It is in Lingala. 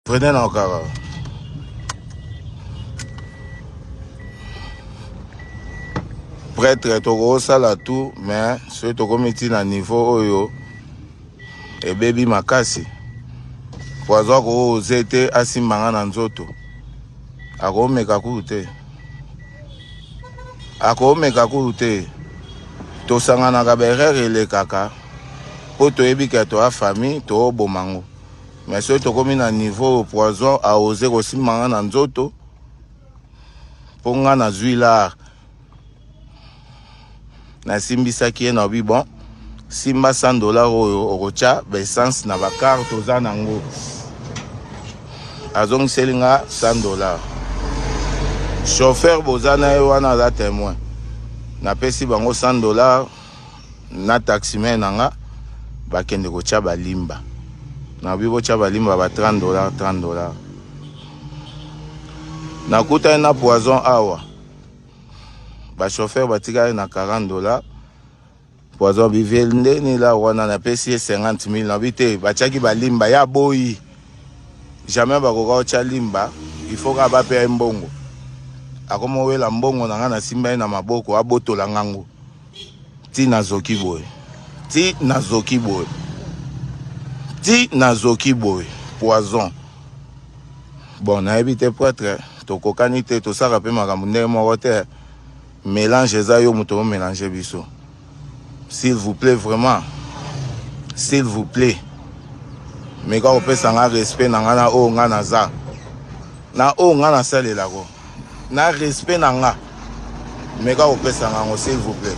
Prenez na okara. Prêtre tokosala tout mais soki tokomi ti na niveau oyo ebebi makasi po aza kooze te asimba nga na nzoto akomeka kuru te akomeka kuru te tosanganaka baerreur elekaka mpo toyebi ke toa famille toobomango mais soki tokomi na niveau oyo poison aose kosimba nga na nzoto mpo nga nazwi lar nasimbisaki ye na bi bon simba 100 dollar oyo okotya baessence na bakarte oza nango azongiseli nga 100 dollar chauffeur boza na ye wana aza témoin napesi bango 100 dollar na taximen na nga bakende kotya balimba nabi botya balimba ba 30 dollar 30 dollar nakutani na poison awa bachauffeur batikali na 40 dollar poison biviel nde nila wana napesi ye 50 000 nabi te batyaki balimba ya boyi jamais bakoka kotya limba ifo kaka bapeya ye mbongo akomowela mbongo na ngai nasimba ye na maboko abotola ngango ti nazoki boye ti nazoki boye ti nazoki boye poison bon nayebi te prêtre tokokani te tosaka mpe makambo ndenge moko te mélange eza yo moto omélange biso s'il vous plaît vraiment s'il vous plaît meka kopesa nga respect na nga na oyo nga naza na oyo nga nasalelako Na respect na nga meka kopesa nga yango s'il vous plait.